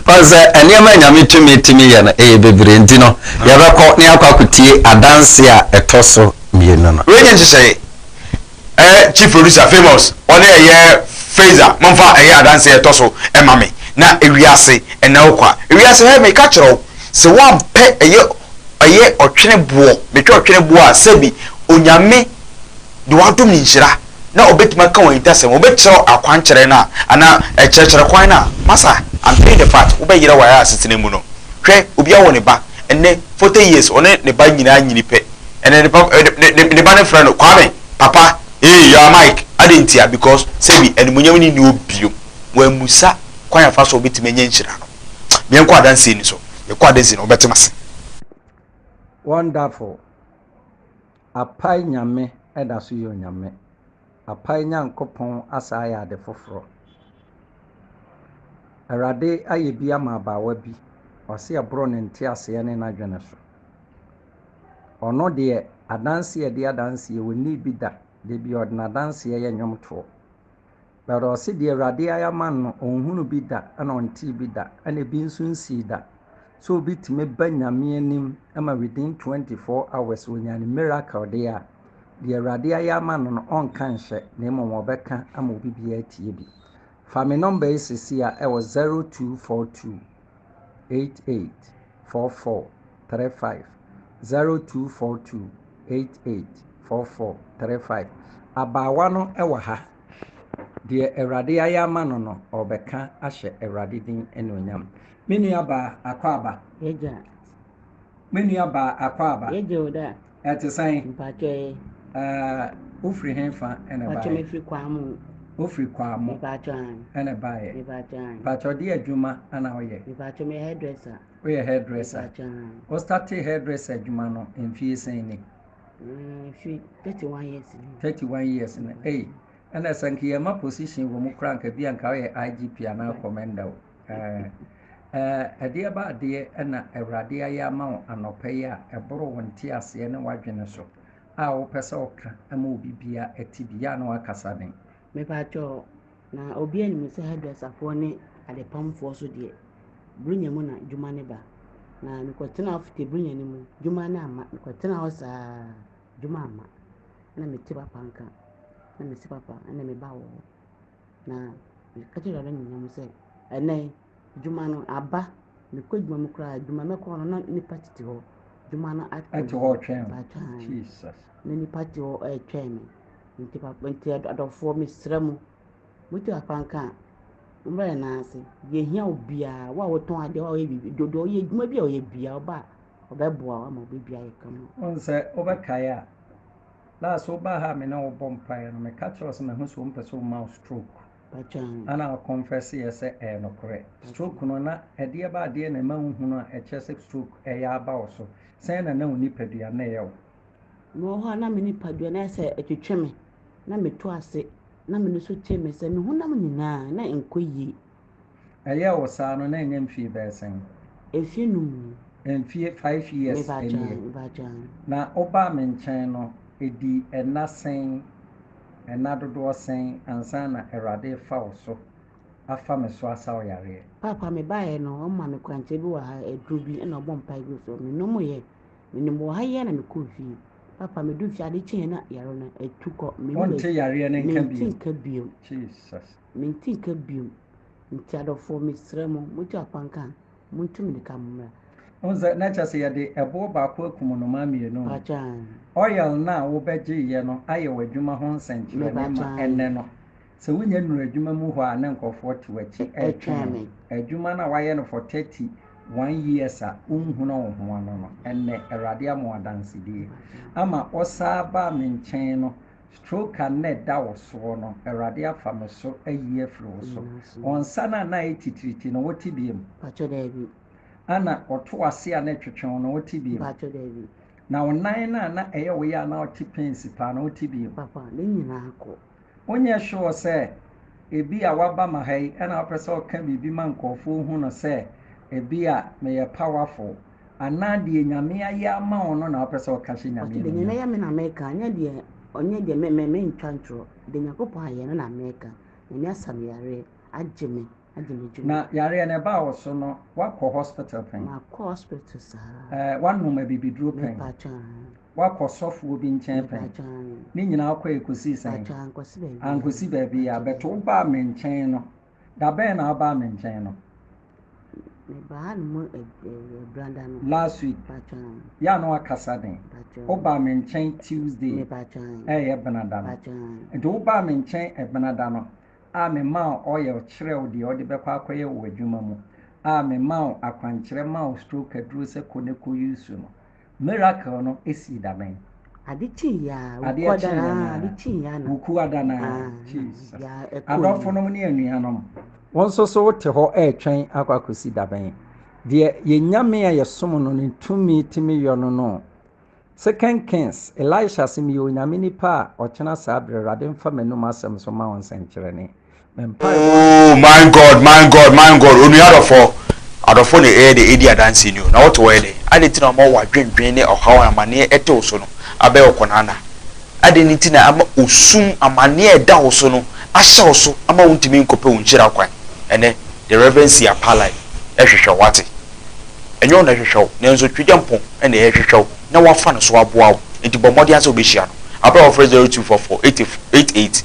S1: Wɔn
S2: sɛ nneɛma nyame tumi tumi yɛ no ɛyɛ bebree nti no ah. yɛbɛkɔ ne akɔ akotie adanse a ɛtɔ so mmienu no. Wei nyɛ nhyehyɛe
S1: ɛɛ eh, chief producer famous ɔne ɛyɛ Fraser momfa ɛyɛ adanse a ɛtɔ so ɛma me na ewiase ɛna okɔ a ewiase hɛ meka kyerɛ wo sɛ woampɛ ɛyɛ ɛyɛ ɔtwene boɔ metwa ɔtwene boɔ a sɛbi onyame de wɔn adom nhyira na ɔbɛtumi aka wɔn ahintasɛm, ɔbɛkyerɛw akwankyerɛ no a, anaa ɛkyerɛkyerɛ kwan no a, masa, I'm playing the part, wobɛyera wɔ ayɛ asetena mu no. Hwɛ, obiara wɔ ne ba, ɛnnɛ, forty years, ɔne ne ba nyinaa nyini pɛ, ɛnna ne papa, ne, ne, ne, ne ba no frɛ no, Kwame, papa, hey, you are Mike, adɛn ntia? Because, sɛbi, animuonyam no nni hɔ bio. Wammisa kwan a ɛfa so a ɔbɛtumi anya nhyira no. Yɛnkɔ adanseɛ no so, yɛkɔ adanseɛ no, wɔbɛte mo ase. Wonderful.
S4: Apae Nyame da so yɛ Onyame. Apae Nyankopɔn asan ayɛ ade foforɔ. Awurade ayɛ bi ama abaawa bi, ɔse ɛboro ne nteaseɛ ne n'adwene so. Ɔno deɛ adanseɛ a ɛdi adanseɛ ɔnnii bi da, da biara ɔde n'adanseɛ yɛ nnwomtoɔ. But ɔse deɛ awurade ayɛ ama no no ɔnhunu bi da ɛna ɔntee bi da ɛna ebi nso nsii da sɛ obi tumi ba nyame anim ma within 24 hours ɔnya ne miracle deɛ a deɛ awurade ayɛ ama no no ɔnka nhyɛ na mmom ɔbɛka ama obi biara atie bi fa me number yi sisi a ɛwɔ 0242 88 44 35 0242 88 44 35 abaawa no ɛwɔ ha. Deɛ Awurade ayɛ ama no no, ɔrebɛka ahyɛ Awurade din anuonyam. Me nuabaa Akwaaba. Yɛgya. Me nuabaa Akwaaba. Yɛgya o da.
S5: Ɛte sɛn?
S4: Mpakyɛ ye.
S5: Ɛɛ,
S4: wofiri he fa ɛna baeɛ? Mpakyɛ mefiri Kwamo.
S5: Wofiri Kwamo?
S4: Mpakyɛ an. Ɛna
S5: baeɛ?
S4: Mpakyɛ an. Mpakyɛ ɔde
S5: adwuma
S4: ana woyɛ? Mpakyɛ meyɛ hairdresser.
S5: Woyɛ hairdresser?
S4: Mpakyɛ an. Wo
S5: startee
S4: hairdresser adwuma no mfie sɛn ni?
S5: Mfe thirty one years
S4: no. Thirty one years no ei ɛna sɛ nka yɛn ma position wɔ mu koraa nka bi anka ɔyɛ IGP anaa commander o ɛɛ ɛɛ ɛdeɛ ba adeɛ ɛna awurade ayɛ ama wo anɔpɛ yi a ɛboro wo nte aseɛ ne wadwene so a wopɛ sɛ ɔka ɛma obi bia ɛte bi yɛ a na wakasa den. Mepatwɔ
S5: Na obiara nim sɛ hairdresserfoɔ ne adepamfoɔ so deɛ, Buronya mu na dwuma no ba. Na mekɔtenaa Ofite Buronya no mu, dwuma no amma. Mekɔtenaa hɔ saa, dwuma amma. Ɛna mete papa nka, na mese papa, ɛna meba wɔ hɔ. Na meka kyerɛ Awurade anuonyam sɛ, ɛnnɛ yi, Dwuma no aba, mekɔ dwuma mu koraa, dwuma mɛkɔ hɔ no na nnipa tete hɔ. Dwuma no atwɛn. Ɛte hɔ twɛn.
S4: Atwɛn. Jesus.
S5: Na
S4: nnipa te hɔ
S5: ɛretwɛn me. Nti papa nti adɔfoɔ mesrɛ mo. Motu papa nka a, mommra yɛn nan ase. Yɛhia obiara, wo a wotɔn adeɛ, wo a woyɛ biribi, dodoɔ woyɛ adwuma bi a ɔyɛ biara, ɔba a ɔbɛboa wo ama wobɛdua yɛ ka mu. Wɔn sɛ wobɛkae
S4: a, last wobaa ha a me ne wo bɔ mpaeɛ no, meka kyerɛ wo sɛ mahu sɛ wompɛ sɛ woma wo stroke. Ana
S5: wo confess
S4: yɛ sɛ ɛyɛ nokorɛ? Stroke no na ɛdeɛ ba adeɛ na ɛma wo hunu a ɛkyerɛ sɛ stroke ɛyɛ aba wo so? Sɛn na na wo nipadua na ɛyɛ wo? Mewɔ hɔ a
S5: na me nipadua no ayɛ sɛ ɛtwetwe me na meto ase na mene so te me sɛ me honam nyinaa na ɛnkɔ yie. Ɛyɛɛ wo
S4: saa no na ɛnyɛ mfie bɛyɛ sɛn? Mfie num
S5: ni. Mfie five
S4: years nie. Na
S5: wobaa me
S4: nkyɛn no, ɛdii ɛna sɛn, ɛna dodoɔ sɛn ansa na Awurade refa wo so afa me so asa wo yareɛ? Paapa, mebaeɛ no,
S5: wɔma me kwankyerɛ bi wɔ ha, aduro bi, ɛna wɔbɔ mpaeɛ gu so. Menomeeɛ. Menom wɔ ha yi ara na mekɔɔ fie. Paapa, meduu fie ade kyeeɛ na yareɛ no atu kɔ. Wonte yareɛ no
S4: nka bio? Mente nka bio.
S5: Jesus.
S4: Mente nka
S5: bio. Nti adɔfoɔ mesrɛ mo, motu akwan ka a, montu mirika mommra. Wohu sɛ na kyerɛ
S4: sɛ yɛde ɛboɔ baako akum nnomaa mmienu. Mpakyɛ aane.
S5: Oil no a
S4: wobɛgyeeɛ no ayɛ w'adwuma ho nsɛnkyerɛnne ma ɛnnɛ no. Sɛ wonyɛ nnuru adwuma mu hɔ a na nkurɔfoɔ te w'akyi retwɛn wo. Adwuma no a woayɛ no for 31 years a wonhunuu wo ho ano no, ɛnnɛ Awurade ama wo adansedie. Ama wosaa baa me nkyɛn no, Stroke a na ɛda wo soɔ no, Awurade afa me so ayi afiri wo so. Wɔn nsa no a na ayɛ titiriti no, wote bio?
S5: Ana, wɔto
S4: w'ase a na ɛtwetwe wo no, wote bio?
S5: Na wo nan no
S4: a na ɛyɛ wo ya a na wote pains paa no, wote bio?
S5: Wonyɛ sure
S4: sɛ ebia woaba ma ha yi na wopɛ sɛ woka biribi ma nkurɔfoɔ hu no sɛ ebia meyɛ powerful Anaa deɛ Nyame ayɛ ama wo no na wopɛ sɛ woka hyɛ Nyame animuonyam? Ɔse deɛ Nyame ayɛ me na meka,
S5: nyɛ deɛ ɔnyɛ deɛ me me mentwa ntorɔ. Deɛ Nyankopɔn ayɛ no na meka. Nyame asa me yareɛ, agye me, agye me dwuma. Na yareɛ no ɛbaa
S4: wo so no woakɔ hospital pɛn? Makɔ hospital
S5: saa. Ɛɛ woanom abibiduro
S4: pɛn? Mepaatwa aane. Woakɔ sɔfoɔ bi nkyɛn pɛn? Mepaatwa aane. Ne nyinaa wokɔɛ kɔsii sɛn? Mepaatwa ankɔsi baabiaa. Ankɔsi baabiaa, but wobaa me nkyɛn no. Da bɛn na wobaa me nkyɛn no? Mebaa no mu brada no. Last week. Yɛ a na wakasa den. Wobaa me nkyɛn Tuesday. Ɛyɛ benada no. Nti wobaa me nkyɛn benada no a memaa wo oil kyerɛɛ wo deɛ wode bɛkɔ akɔyɛ wɔ w'adwuma mu a memaa wo akwankyerɛ maa wo stroke aduro sɛ kɔ ne kɔ use no. Miracle no sii da bɛn? Ade kyeeɛ
S5: a, Adeɛ
S4: wukua kyeeɛ danaa, ade naa, kyeeɛ ana. wukua danaa. Ah, na Jesus. biribiara ɛkɔɔ yie. Adɔfonom ne anuanom, wo nso so wote hɔ retwɛn akɔ akɔsi da bɛn? Deɛ yɛn Nyame a yɛsom no ne tumi tumi yɔ no no o. Second Kings, Elisha se meyɛ Onyame nipa a ɔkyena saa berɛ Awurade mfa m'anom asɛm so ma wo nsɛnkyerɛnne. Ooh
S1: my God my God my God onua adɔfoɔ adɔfoɔ na ɛyɛ dɛ ɛdi adanseɛ ni o na wote wɔyɛ dɛ adɛn nti na ɔma wadwendwen ne ɔhaw a amaneɛ ɛte wo so no abɛyɛ wo kɔnanda adɛn nti na ama osum amaneɛ a ɛda wo so no ahyɛ wo so ama wontumi nkɔpɛ wo nhyira kwan ɛnɛ the reverend si apalai ɛhwehwɛ wo wate ɛnyɛ wo na ɛhwehwɛ wo nanso twegyampɔn ɛna ɛhwehwɛ wo na wafa no so aboa wo nti bɔ mmɔden ara sɛ wobɛhyia no abrɛ wɔfrɛ 0244 88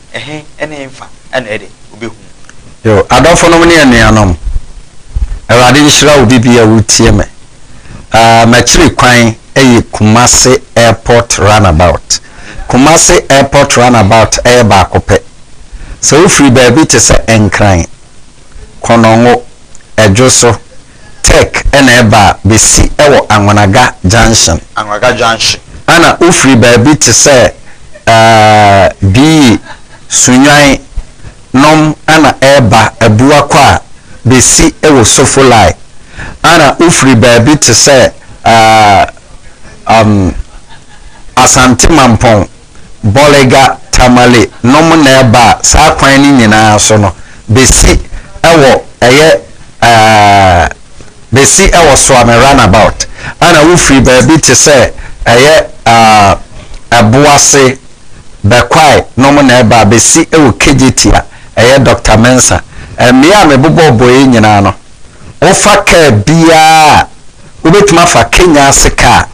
S1: Ɛhe ne mfa na ɛde wobehu no? Yo, adɔfonom
S2: ne anuanom, Awurade nhyira wo bibi a woretie me. Ahh, m'akyiri kwan yɛ Kumasi Airport Runabout. Kumasi Airport Runabout yɛ baako pɛ. Sɛ wofiri baabi te sɛ Nkran, Konongo, Adwo so, Tech na ɛba a, bɛsi wɔ Anwanaga Junction. Anwanaga Junction.
S1: Ɛna wofiri
S2: baabi te sɛ ɛɛ Bii, Sunyani nom ɛna ɛreba Abuakɔ a, bɛsi wɔ Sofolai. Ɛna wofiri baabi te sɛ ɛɛ ɛm Asante Mampɔn. Bolega Tamale nom na ɛbaa saa kwan no nyinaa so no bɛsi wɔ ɛyɛ bɛsi wɔ Suame Runabout ɛna wofiri baabi te sɛ ɛyɛ Ɛboase, Bɛkwae nom na ɛbaa bɛsi wɔ KJT a ɛyɛ Doctor Mensah. Mmea a mebobɔɔ bɔ yi nyinaa no wofa kaa biara a. Wobɛtumi afa Kenya ase kaa,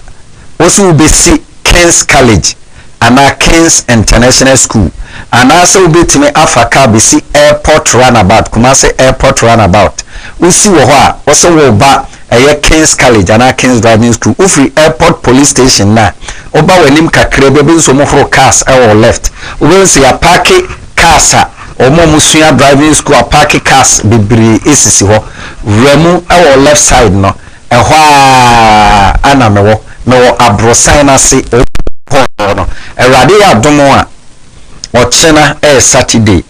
S2: wose wobɛsi King's College anaa King's International School, anaasɛ wobɛtumi afa kaa bɛsi Airport Runabout, Kumasi Airport Runabout. Wosi wɔ hɔ a, wose woreba ɛyɛ King's College anaa King's Driving School. Wofiri Airport Police Station no a, woba w'anim kakraa bi a, wobɛhu sɛ wɔhoro cars wɔ wo left. Wobɛhu sɛ yɛapaake cars a. Wɔn a wɔsua driving school a parke cars bebree sisi hɔ wura mu wɔ wo left side no, ɛhɔ ara na mewɔ. Mewɔ aborosan no ase hɔ no. Awurade yɛ adom a, ɔkyena yɛ Saturday.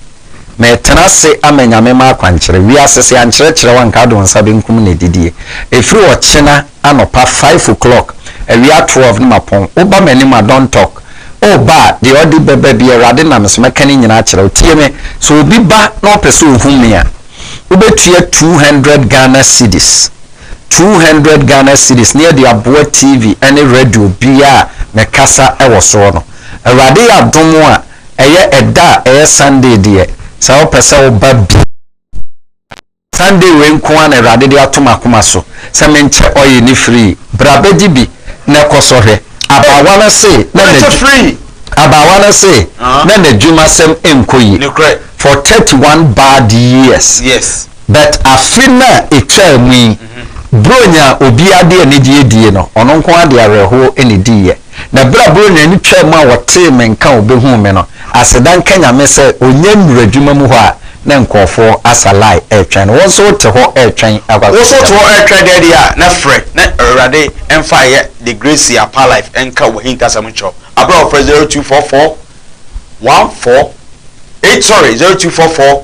S2: Meretena ase ama Nyame m'akwankyerɛ. Wiase sɛ yɛankyerɛkyerɛ wo a nka wode wo nsa benkum na adidie. Ɛfiri ɔkyena. anɔpa five o'clock awia twelve ne mapɔn wo ba m'anim a don't talk oh ba deɛ ɔde bɛba biara awurade nam me so mɛka ne nyinaa akyerɛ wo tie me sɛ obi ba na ɔpɛ sɛ ɔhu me a wobɛtua two hundred Ghana cedis two hundred Ghana cedis ne yɛde aboa TV ne radio biara a mɛkasa wɔ soɔ no awurade yɛ adom a ɛyɛ ɛda a ɛyɛ Sunday deɛ sɛ wopɛ sɛ wo ba bi. Sunday wei nko ara na Awurade de ato m'akoma so sɛ menkyɛ ɔye no firi yi. Bra bɛgye bi na ɛkɔ sɔ hwɛ. Abaawa no se na
S1: Abaawa no se
S2: na n'adwumasɛm nkɔ yie for thirty one bad years but
S1: afe
S2: no a ɛtwaa mu yi, Buronya a obiara de anigyeɛ die no, ɔno nko ara de awerɛhoɔ na ɛdiiɛ. Na berɛ a Buronya ani twaa mu a ɔtee me nka a ɔbɛhuu me no, aseda nka Nyame sɛ ɔnya nnuru adwuma mu hɔ a na nkurɔfoɔ asa line retwɛn no. Wo nso wote hɔ retwɛn akɔ Wo nso wote hɔ retwɛn dɛn
S1: deɛ a, na frɛ na Awurade mfa yɛ The Grace Apa Life nka w'ahintasɛm nkyerɛ wo. Aberɛ a wɔfrɛ 0244 14 8 sorry 0244.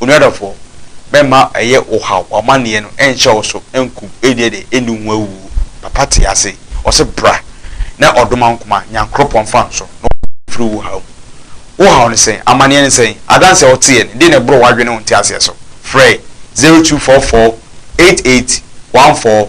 S1: Onua dɔfoɔ, mɛmma ɛyɛ wo haw, w'amanneɛ no ɛnhyɛ wo so ɛnkum, ɛnnie deɛ ɛnni ho awuo. Papa te ase, ɔse bra na ɔdoma wo koma, Nyankoropɔn fa nso na ɔbɛyi wo afiri wo haw mu. Wo haw ne sɛn? Amanneɛ ne sɛn? Adanseɛ a woteɛ no, deɛ na ɛboro w'adwene ne wo nteaseɛ so? Frɛ zero two four four eight eight one four.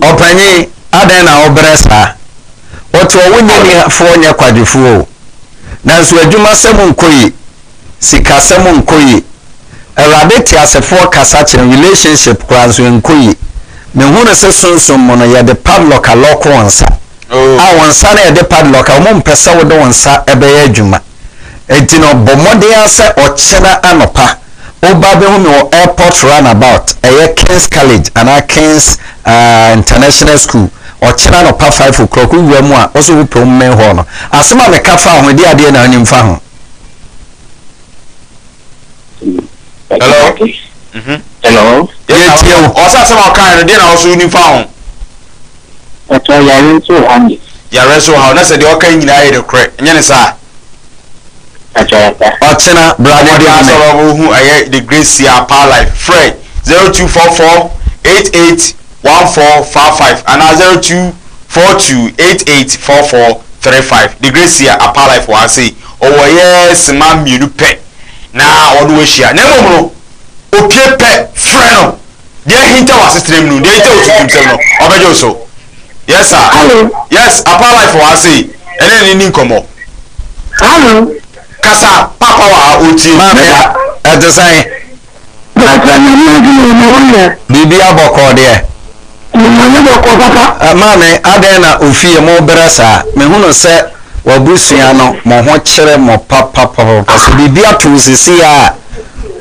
S2: Ɔpanyin, adɛn na wobrɛ saa? Ɔte ɔwo nyɛniafoɔ nyɛ kwadwofoɔ o. Nanso adwumasɛm nkɔ yi, sikasɛm nkɔ yi, Awurade teasefoɔ kasa kyɛn relationship koraa nso ɛnkɔ yi. Mehunu se sunsum mu no yɛde padlock alɔɔko wo nsa. A wo nsa no a yɛde padlock a wɔmpɛ sɛ wode wo nsa bɛyɛ adwuma. Enti na ɔbɔ mmɔden ara sɛ ɔkyena anɔpa ɔba bɛhu me wɔ airport runabout, ɛyɛ King's College anaa King's uh, International School. Ɔkyena anɔpa five o'clock wowura mu a ɔsɛ wopɛ wo mmɛn hɔ no. Asɛm a meka fa ho de adeɛ na anim fa ho. Hello? Mm-hmm.
S1: Hello?
S6: Yɛtie wo.
S1: Ɔsɛ asɛm a ɔkae no deɛ na ɔso wonim fa ho.
S6: Pastor yare nso wɔ hɔ nie. Yare nso wɔ ha o na sɛ
S1: deɛ ɔka yi nyinaa yɛ nokorɛ nyɛ ne saa. Pastor
S2: Yata. Ɔkyena bra na di home. Ɔbɛka sɛ ɔbɔ hu
S1: ɛyɛ the great sia paa life frɛ zero two four four eight eight one four four five anaa zero two four two eight eight four four three five the great sia apaa life wɔ ha sei ɔwɔ ɛyɛ sima mmienu pɛ na ɔne wo ahyia na mmom no opie pɛ frɛ no. Deɛ ahinta w'asetenam no, deɛ ahinta wo suntumsɛm no, ɔbɛgye wo so. Yes, sir. Hello. Yes, Apa
S6: Life
S1: wɔ ha sei. Ɛne ne ni nkɔmmɔ. Hello.
S6: Kasa,
S1: Papa wɔ ha, ɔretie. Maame,
S2: ɛte sɛn? Papa, nyame adom o, na woyɛ? Biribiara bɔkɔɔ deɛ? Nyame bɔkɔɔ, Papa. Maame, adɛn na ofie mobrɛ saa? Mehunu sɛ w'abusua no, mo ho kyere mo papapapapa. Sɛ biribi ato wo seesei ara a,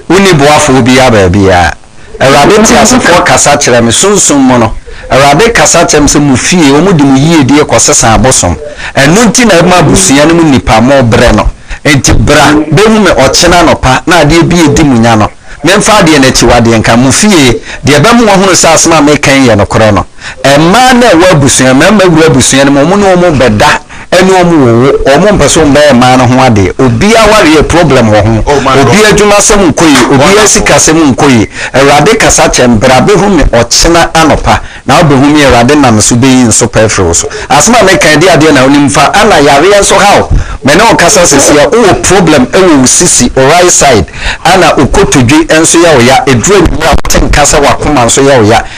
S2: wonni boafoɔ biara baabiara. Awurade teasefoɔ kasa kyerɛ me, sunsum mu no, Awurade kasa kyerɛ me sɛ mo fie, wɔde mo yiedie kɔsesa abosom, ɛno nti na ɛma abusua no mu nnipa, mobrɛ no. Enti bra bɛhu me ɔkyena anɔpa, na adeɛ bi a ɛdi mo nya no, memfa adeɛ no akyiwadeɛ nka. Mo fie, deɛ ɛbɛma wɔahunu sɛ asɛm a mereka yi yɛ nokorɛ no. Mmaa no a ɛwɔ abusua, mmarima wura abusua no mu, wɔn ne wɔn bɛda ɛne wɔn wowo, wɔn mpɛ sɛ wɔn bɛyɛ mmaa no ho adeɛ. Obi awareɛ yɛ problem wɔ ho, Oh, man, obi adwuma asɛm nkɔ yie, obi Wonderful. asika asɛm nkɔ yie. Awurade kasa kyerɛ me, bra bɛhu me ɔkyena anɔpa na wobɛhu me, Awurade nam so bɛyi nsopa afiri wo so. Asɛm a meka yi, ɛdeɛ adeɛ na wonim fa, Anna yareɛ nso ha wo. Me ne wo kasa seesei, wowɔ problem wɔ wo sisi, wo right side, ɛna wo kotodwe nso yɛ wo ya. Ɛduru anwummerɛ a wote nka sɛ w'akoma nso yɛ wo ya.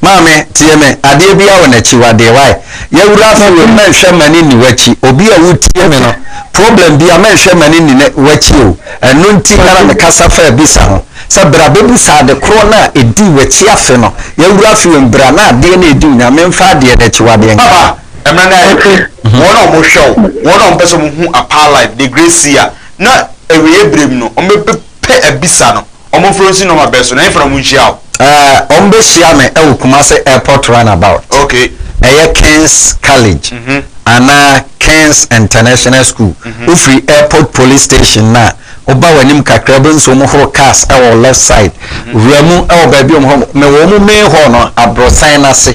S2: Maame, tie me, adeɛ biara wɔ n'akyiwadeɛ, why? Yawura fi wom, mɛnhwɛ m'ani nni w'akyi, obi a wotie me no, problem biara mɛnhwɛ m'ani nni ne, w'akyi o, ɛno nti na na mekasa faa bisa ho, sɛ bra bɛbisa ade korɔ no a ɛdii w'akyi afe no, yawura fi wom, bra na adeɛ no a ɛdi wo nya, memfa adeɛ no akyiwadeɛ nka. Papa, ɛmmerɛ no ayɛ
S1: hwɛ, wɔn a wɔhwɛ wo, wɔn a wɔpɛ sɛ wɔhu Apaa Live, The Great Seer, na awieɛ berɛ mu no, wɔbɛ, pɛ abisa no ɔmo mfrɛ wo nsi nɔma bɛn so na yɛmfa na ɔmo nhyia wo? Eh, ɔmo bɛhyia
S2: me ɛwɔ Kumasi Airport Runabout. Ok. Ɛyɛ
S1: Kings
S2: College anaa Kings International School. Wo firi Airport Police Station no a, wo ba w'anim kakra wobɛhu sɛ ɔmo horo cars ɛwɔ wo left side. Wura mu ɛwɔ baabi a ɔmo horo, mewɔ ɔmo main hall no abrɔsan no ase.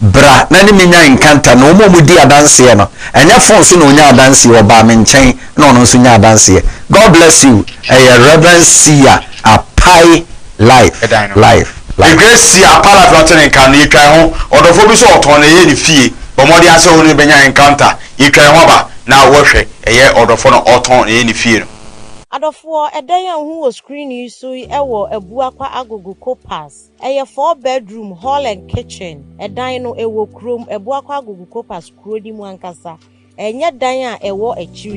S2: Bra na ne me nya nkanta na wɔn a wɔdi adanseɛ no, ɛnyɛ phone so na ɔnya adanseɛ o, ɔbaa me nkyɛn na ɔno nso nya adanseɛ. God bless you, ɛyɛ Rev. Sia Apai life life life.
S1: Grace Sia Apai life na ɔte ne nka no, yɛtwa yɛn ho, ɔdɔfoɔ bi nso ɔtɔn na ɛyɛ ne fie, bɔ mmɔden ara sɛ wo ne no bɛnya encounter, yɛtwa yɛn ho aba na wo hwɛ, ɛyɛ ɔdɔfoɔ na ɔtɔn na ɛyɛ ne fie no. Adɔfoɔ,
S7: ɛdɛn a wohu wɔ screen yi so yi wɔ Abuakwa Agogo Copas. Ɛyɛ four bedroom, hall and kitchen. Ɛdan no, ɛwɔ kurom. Abuakwa Agugu Kopas kuro no mu ankasa. Ɛnyɛ dan a ɛwɔ akyiri.